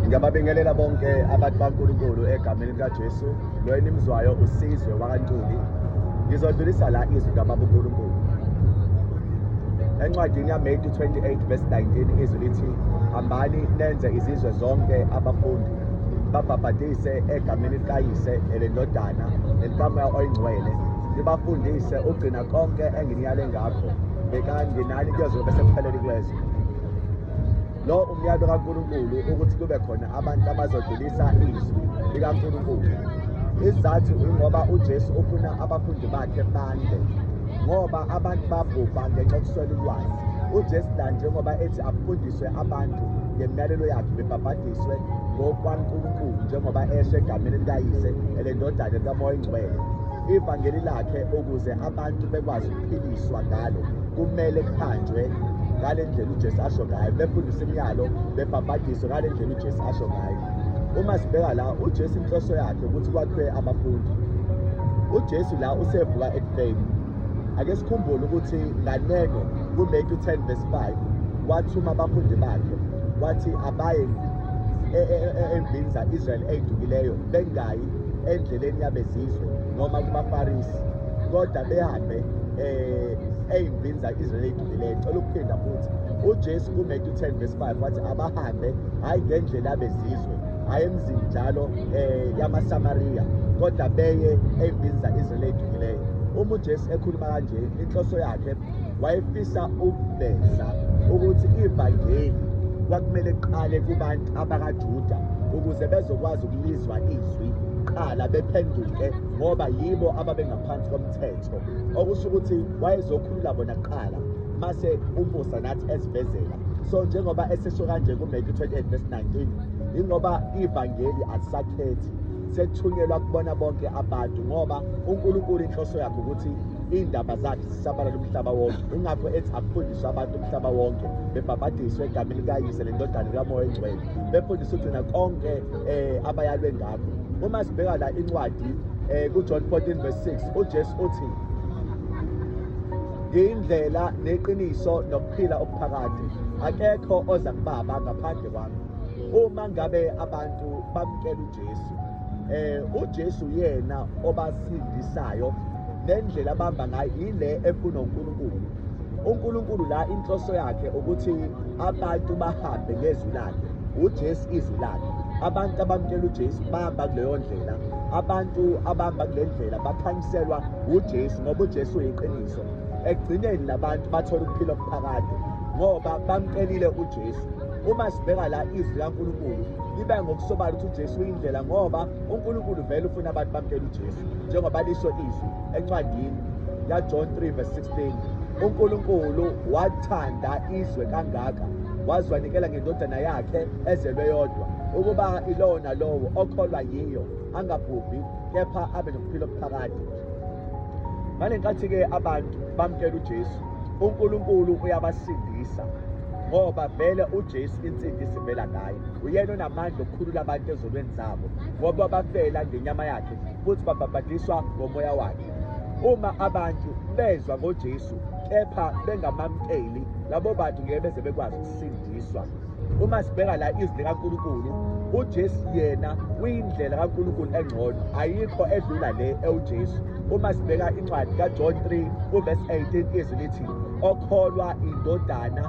Ngiyababingelela bonke abantu baNkulunkulu egameni likaJesu. Lo enimzwayo usizwe wakaNtuli. Ngizodlulisa la izwi kaBaba uNkulunkulu. Encwadini yaMethi 28 verse 19 izwi lithi hambani nenze izizwe zonke abafundi babhabhadise egameni likayise elendodana nelikamoya oyingcwele nibafundise ugcina konke enginiyale ngakho bekani nginani kuyozobe sekuphelele kwezwe Lo umyalo kaNkulunkulu ukuthi kube khona abantu abazodlulisa izwi likaNkulunkulu. Isizathu ingoba uJesu ufuna abafundi bakhe bande ngoba abantu babhubha ngenxa yokuswela ulwazi. UJesu la njengoba ethi afundiswe abantu ngemiyalelo yakhe bebhabhadiswe ngokwaNkulunkulu njengoba esho egameni likayise elendodana likamoya oyingcwele ivangeli lakhe ukuze abantu bekwazi phikiswa ngalo kumele kuhanjwe ngale ndlela uJesu asho ngayo befundisa imiyalo bebhabhadiswe ngale ndlela uJesu asho ngayo uma sibheka la uJesu inhloso yakhe ukuthi kwakhiwe abafundi uJesu la usevuka ekufeni ake sikhumbule ukuthi nganeno kuMatthew 10 verse 5 wathuma abafundi bakhe wathi abaye e, e, e, endlini za-israyeli ey'dukileyo bengayi endleleni yabezizwe noma kubafarisi kodwa behambe eh eyimvinza izwe lethu lile cela ukuphinda futhi uJesu kuMatthew 10 verse 5 wathi abahambe hayi ngendlela abezizwe hayi emzini njalo eh yamaSamaria kodwa beye eyimvinza izwe lethu lile uma uJesu ekhuluma kanje inhloso yakhe wayefisa ukuveza ukuthi ivangeli kwakumele kuqale kubantu abakaJuda ukuze bezokwazi ukulizwa izwi qala bephenduke ngoba yibo ababengaphansi komthetho okusho ukuthi wayezokhulula bona kuqala mase umusa nathi esibhezela so njengoba esesho kanje kuMatthew 28 verse 19 ingoba ivangeli alisakhethi sethunyelwa kubona bonke abantu ngoba uNkulunkulu inhloso yakhe ukuthi iy'ndaba zakhe zisabalala umhlaba wonke ingakho ethi akufundiswe abantu umhlaba wonke bebhabhadiswe egameni likayise lendodana likamoya engcwele befundiswe ugcina konke um abayalwe ngayo Uma sibheka la incwadi eh kuJohn 14 verse 6 uJesu uthi ngiyindlela neqiniso nokuphila okuphakade akekho oza kubaba ngaphandle kwami uma ngabe abantu bamkela uJesu eh uJesu yena obasindisayo nendlela abamba ngayo ile ekunoNkulunkulu uNkulunkulu la inhloso yakhe ukuthi abantu bahambe ngezwi lakhe uJesu izwi lakhe abantu abamkela uJesu bahamba kuleyo ndlela abantu abahamba kule ndlela bakhanyiselwa uJesu ngoba uJesu uyiqiniso ekugcineni labantu bathola ukuphila okuphakade ngoba bamkelile uJesu uma sibheka la izwi laNkulunkulu libe ngokusobala ukuthi uJesu uyindlela ngoba uNkulunkulu vele ufuna abantu bamkele uJesu njengoba lisho izwi encwadini yaJohn 3 verse 16 uNkulunkulu wathanda izwe kangaka waziwanikela ngendodana yakhe ezelwe yodwa ukuba ilowo nalowo okholwa yiyo angabhubhi kepha abe nokuphila okuphakade ngale nkathi-ke abantu bamkela ujesu unkulunkulu uyabasindisa ngoba vele uJesu insindi sivela ngaye uyena onamandla okukhulula abantu ezolweni zabo ngoba bafela ngenyama yakhe futhi babhabhadiswa ngomoya wakhe. Uma abantu bezwa ngoJesu kepha bengamamkeli labo bantu ngeke beze bekwazi ukusindiswa. Uma sibheka la izwi likaNkulunkulu uJesu yena uyindlela kaNkulunkulu engcono ayikho edlula le ewuJesu uma sibheka incwadi kaJohn 3 uverse 18 izwi lithi okholwa indodana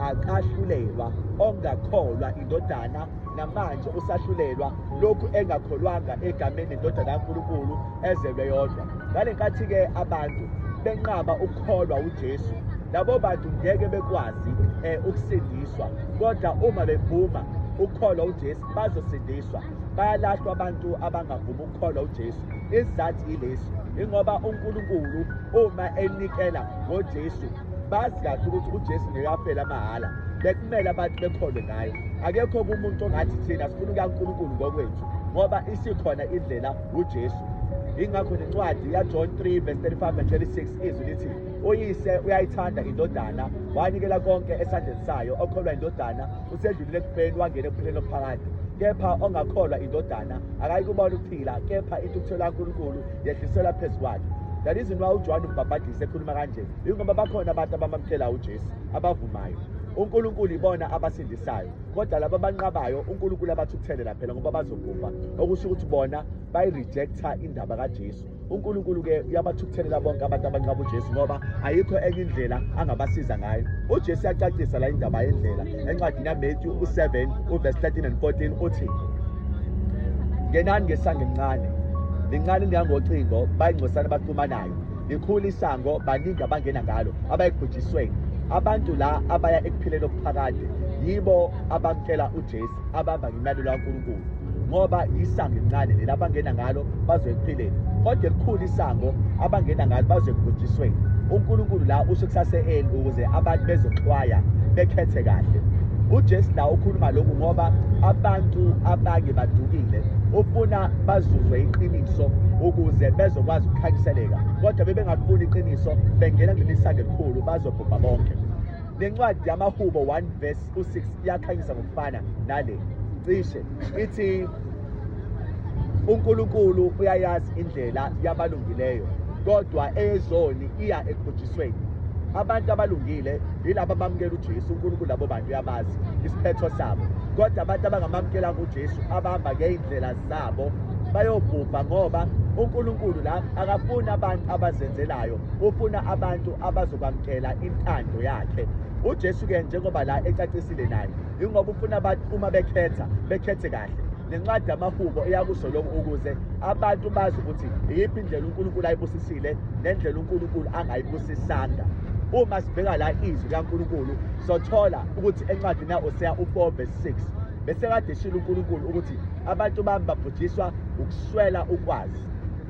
akahlulelwa ongakholwa indodana namanje usahlulelwa lokhu engakholwanga egameni indodana kaNkulunkulu ezelwe yodwa ngale nkathi-ke abantu benqaba ukukholwa uJesu labo bantu ngeke bekwazi eh, ukusindiswa kodwa uma bevuma ukukholwa uJesu bazosindiswa bayalahlwa abantu abangavumi ukukholwa uJesu isizathu yilesi ingoba uNkulunkulu uma enikela ngoJesu bazi kahle ukuthi ujesu ngeke afele amahhala bekumele abantu bekholwe ngaye akekho kumuntu ongathi thina sifuna ukankulunkulu ngokwethu ngoba isikhona indlela ujesu ingakho nencwadi yajohn 3 verse 35 and 36 izwi lithi uyise uyayithanda indodana wanikela konke esandleni sayo okholwa indodana usedlulile ekufeni wangena ekuphileni okuphakade kepha ongakholwa indodana akayikubona ukuphila kepha intuthuthelo kankulunkulu yehliselwa phezu kwakhe that is why ujohane umbhabhadisa ekhuluma kanje Yingoba bakhona abantu abamamkela uJesu abavumayo uNkulunkulu ibona abasindisayo kodwa laba abanqabayo uNkulunkulu abathukuthelela phela ngoba bazobhubha okusho ukuthi bona bayirejecta indaba kaJesu uNkulunkulu ke uyabathukuthelela bonke abantu abanqaba uJesu ngoba ayikho enye indlela angabasiza ngayo uJesu uyacacisa la indaba yendlela encwadini yaMatthew u7 uverse 13 and 14 uthi ngenani ngesangimncane lincane lingangocingo bayingcosana baxhumanayo likhulu isango baningi abangena ngalo abayekubhujisweni abantu la abaya ekuphileni okuphakade yibo abamtshela uJesu abamba ngimyalelo kaNkulunkulu ngoba isango elincane leli abangena ngalo bazoyekuphileni kodwa elikhulu isango abangena ngalo bazoyekubhujisweni uNkulunkulu la usho kusase-eni ukuze abantu bezoxwaya bekhethe kahle uJesu la ukhuluma lokhu ngoba abantu abange badukile ufuna bazuzwe iqiniso ukuze bezokwazi ukukhanyiseleka kodwa bebengakufuni iqiniso bengena kuleli sango elikhulu bazobhubha bonke nencwadi yamahubo 1 verse 6 iyakhanyisa ngokufana nale cishe ithi uNkulunkulu uyayazi indlela yabalungileyo kodwa eyezoni iya ekubhujisweni abantu abalungile yilabo abamukela uJesu uNkulunkulu labo bantu uyabazi isiphetho sabo kodwa abantu abangamamukela kuJesu abahamba ngeyindlela zabo bayobhubha ngoba uNkulunkulu la akafuni abantu abazenzelayo ufuna abantu abazokwamkela intando yakhe uJesu ke njengoba la ecacisile naye ingoba ufuna abantu uma bekhetha bekhethe kahle nencwadi yamahubo eyakusho lokhu ukuze abantu bazi ukuthi iyiphi indlela uNkulunkulu ayibusisile nendlela uNkulunkulu angayibusisanga uma sibheka la izwi likaNkulunkulu sothola ukuthi encwadini ya-Oseya u-4 verse 6 bese kade eshilo uNkulunkulu ukuthi abantu bami babhujiswa ukuswela ukwazi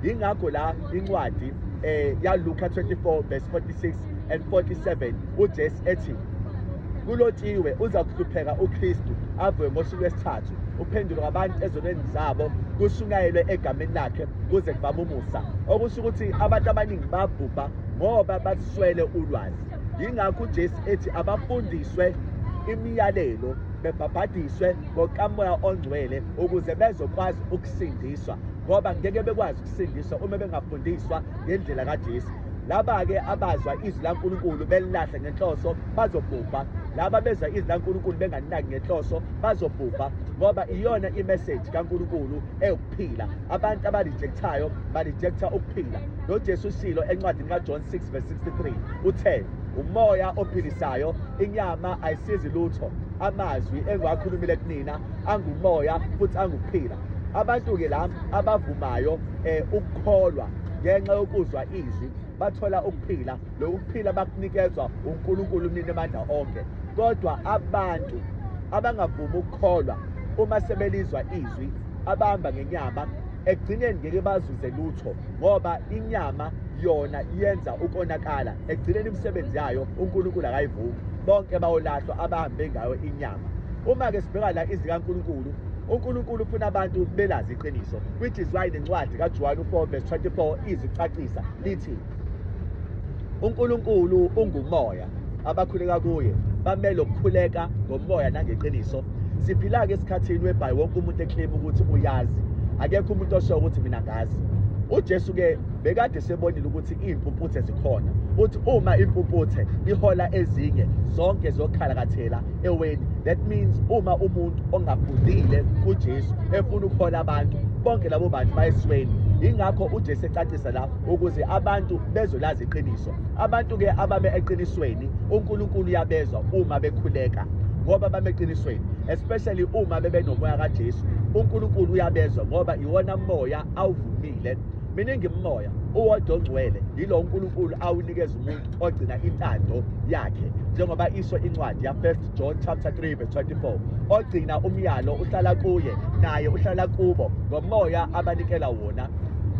yingakho la incwadi eh yaLuka 24 verse 46 and 47 uJesu ethi kulotshiwe uza kuhlupheka uKristu avuke ngosuku lwesithathu uphendulwe abantu ezonweni zabo kushunyayelwe egameni lakhe kuze kubaba umusa okusho ukuthi abantu abaningi babhubha ngoba baswele ulwazi yingakho uJesu ethi abafundiswe imiyalelo bebhabhadiswe ngokamoya ongcwele ukuze bezokwazi ukusindiswa ngoba ngeke bekwazi ukusindiswa uma bengafundiswa ngendlela kaJesu laba-ke abazwa izwi lankulunkulu belilahle ngenhloso bazobhubha laba bezwa izwi lankulunkulu bengalinaki ngenhloso bazobhubha ngoba iyona imeseji kankulunkulu ewukuphila abantu abalijekthayo balijektha ukuphila nojesu ushilo encwadini kajohn 6 verse 63 uthe umoya ophilisayo inyama ayisizi lutho amazwi engiwakhulumile kunina angumoya futhi angukuphila abantu-ke la abavumayo um eh, ukukholwa ngenxa yokuzwa izwi bathola ukuphila loku kuphila bakunikezwa unkulunkulu umnini amandla onke kodwa abantu abangavumi ukukholwa uma sebelizwa izwi abahamba ngenyama ekugcineni ngeke bazuze lutho ngoba inyama yona yenza ukonakala ekugcineni imisebenzi yayo uNkulunkulu akayivumi bonke bayolahlwa abahambe ngayo inyama uma-ke sibheka la izwi likaNkulunkulu uNkulunkulu ufuna abantu belazi iqiniso which is why nencwadi kaJohane 4 verse 24 izicacisa lithi uNkulunkulu ungumoya abakhuleka kuye bamele ukukhuleka ngomoya nangeqiniso siphila-ke esikhathini webhayi wonke umuntu eklima ukuthi uyazi akekho umuntu osho ukuthi mina ngazi ujesu-ke bekade sebonile ukuthi iy'mpumputhe zikhona uthi uma impumputhe ihola ezinye zonke zokhalakathela eweni that means uma umuntu ongafundile kujesu efuna ukuhola abantu bonke labo bantu bayesweni yingakho ujesu ecacisa la ukuze abantu bezolazi iqiniso Abantu ke abame eqinisweni uNkulunkulu uyabezwa uma bekhuleka ngoba bame eqinisweni especially uma bebenomoya kaJesu. UNkulunkulu uyabezwa ngoba iwona moya awuvumile. Miningi imimoya uwodwa ongcwele yilo uNkulunkulu awunikeza umuntu ogcina intando yakhe njengoba isho incwadi ya-1 John chapter 3 verse 24 ogcina umyalo uhlala kuye naye uhlala kubo ngomoya abanikela wona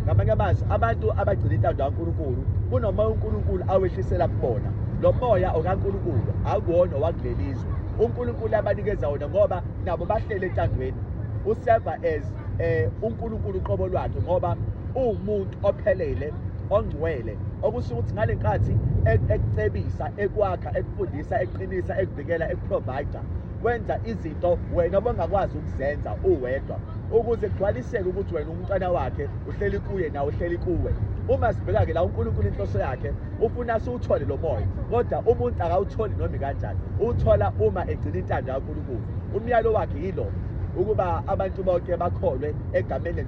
ngamanye amazwi abantu abagcina intando kaNkulunkulu kunomoya uNkulunkulu awehlisela kubona lo moya okaNkulunkulu akuwona owakuleli izwe uNkulunkulu abanikeza wona ngoba nabo bahlele entandweni useva as eh uNkulunkulu qobo lwakhe ngoba uwumuntu ophelele ongcwele okusho ukuthi ngale nkathi e-, ekucebisa ekwakha ekufundisa eqinisa ekuvikela ekuprovider wenza izinto wena obengakwazi ukuzenza uwedwa ukuze kugcwaliseke ukuthi wena umntwana wakhe uhleli kuye nawe uhleli kuwe uma sibheka-ke la unkulunkulu inhloso yakhe ufuna siwuthole lo moya kodwa umuntu akawutholi noma ikanjani uwuthola uma egcina intando kankulunkulu Umyalo wakhe yilo ukuba abantu bonke bakholwe egameni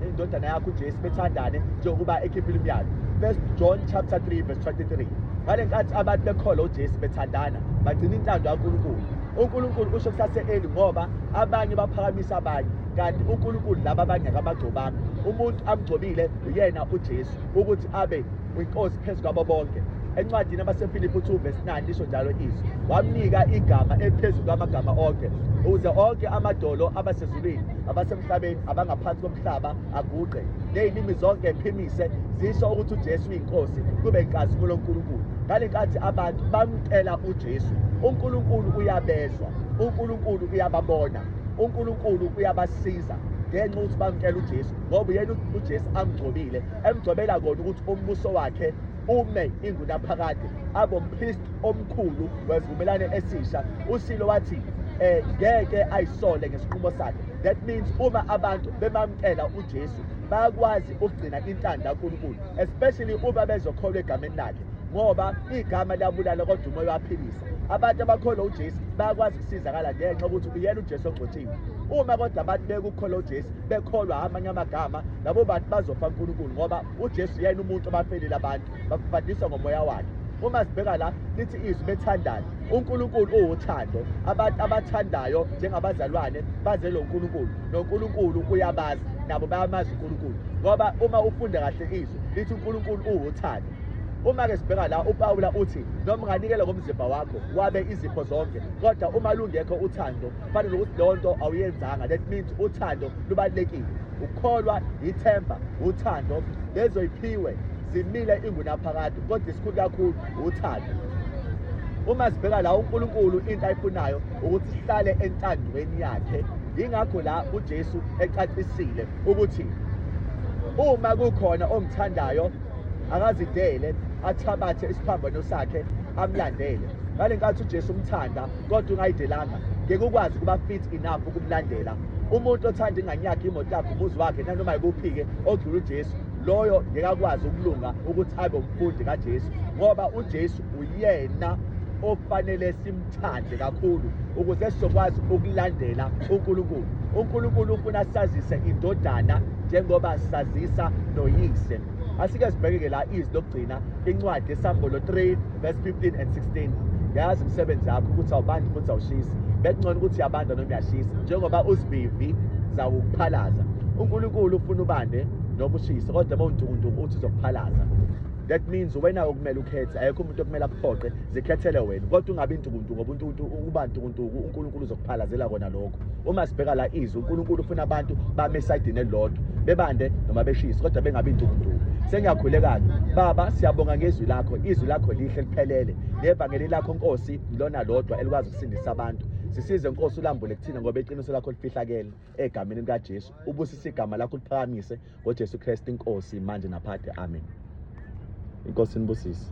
lendodana yakho uJesu bethandane njengokuba ekhiphile umyalo. 1 John chapter 3 verse 23. Ngale nkathi abantu bekholwa uJesu bethandana bagcina intando kaNkulunkulu. uNkulunkulu usho kusase-eli ngoba abanye baphakamisa abanye kanti uNkulunkulu laba abanye akabagcobanga umuntu amgcobile uyena uJesu ukuthi abe kwiNkosi phezu kwabo bonke. Encwadini abaseFilipi 2 verse 9 lisho njalo izwi. Wamnika igama eliphezulu kwamagama onke ukuze onke amadolo abasezulwini abasemhlabeni abangaphansi komhlaba aguqe. Leyilimi zonke ephimise zisho ukuthi uJesu uyinkosi kube inkazimulo uNkulunkulu. Ngalenkathi abantu bamcela uJesu, uNkulunkulu uyabezwa, uNkulunkulu uyababona, uNkulunkulu uyabasiza ngenxa ukuthi bamkela uJesu ngoba yena uJesu amgcobile emgcobela kona ukuthi umbuso wakhe ume ingunaphakade abompriest omkhulu wesivumelane esisha usilo wathi eh ngeke ayisole ngesinqumo sakhe that means uma abantu bemamkela uJesu bayakwazi ukugcina intando kaNkulunkulu especially uma bezokholwa egameni lakhe ngoba igama liyabulala kodwa umoya uyaphilisa abantu abakholwa uJesu bayakwazi ukusizakala ngenxa ukuthi uyena uJesu ogcotshiwe uma kodwa abantu bekukholwa uJesu bekholwa amanye amagama labo bantu bazofa uNkulunkulu ngoba uJesu yena umuntu obafelile abantu bakufundisa ngomoya wakhe uma sibheka la lithi izwi bethandana uNkulunkulu uwuthando abantu abathandayo njengabazalwane bazelo uNkulunkulu noNkulunkulu uyabazi nabo bayamazi uNkulunkulu ngoba uma ufunda kahle izwi lithi uNkulunkulu uwuthando uma-ke sibheka la upawula uthi noma unganikela ngomzimba wakho wabe izipho zonke kodwa uma lungekho uthando kufanele ukuthi leyo nto awuyenzanga that means uthando lubalulekile ukukholwa yithemba uthando lezoyiphiwe zimile ingunaphakade kodwa isikhulu kakhulu uthando uma sibheka la uNkulunkulu into ayifunayo ukuthi sihlale entandweni yakhe yingakho la uJesu ecacisile ukuthi uma kukhona ongithandayo akazidele athabathe isiphambano sakhe amlandele ngale nkathi uJesu umthanda kodwa ungayidelanga ngeke ukwazi ukuba fit enough ukumlandela umuntu othanda ingane yakhe imoto yakhe umuzi wakhe nanoma yikuphi-ke ogcula ujesu loyo ngeke akwazi ukulunga ukuthi abe umfundi kajesu ngoba ujesu uyena ofanele simthande kakhulu ukuze sizokwazi ukulandela unkulunkulu unkulunkulu ufuna sazise indodana njengoba sazisa noyise asike sibheke-ke la izwi lokugcina incwadi esambolo 3 verse 15 and 16 yazi umsebenzi yakho ukuthi awubandi futhi awushisi bekungcono ukuthi uyabanda noma uyashisa njengoba uzivivi zawukuphalaza unkulunkulu ufuna ubande noma ushise kodwa uma untukuntuku uthi uzokuphalaza that means wena okumele ukhethe ayekho umuntu okumele akuphoqe zikhethele wena kodwa ungabi ntukuntuku ngoba untukuntuku uba ntukuntuku unkulunkulu uzokuphalazela kona lokho uma sibheka la izwi uNkulunkulu ufuna abantu bame esayidini elilodwa bebande noma beshise kodwa bengabi indukunduku sengiyakhulekani baba siyabonga ngezwi lakho izwi lakho lihle liphelele nevangeli lakho nkosi lona lodwa elikwazi ukusindisa abantu sisize nkosi ulambule kuthina ngoba iqiniso lakho lifihlakele egameni likajesu ubusise igama lakho liphakamise ngojesu kristu inkosi manje naphakade amen inkosi nibusise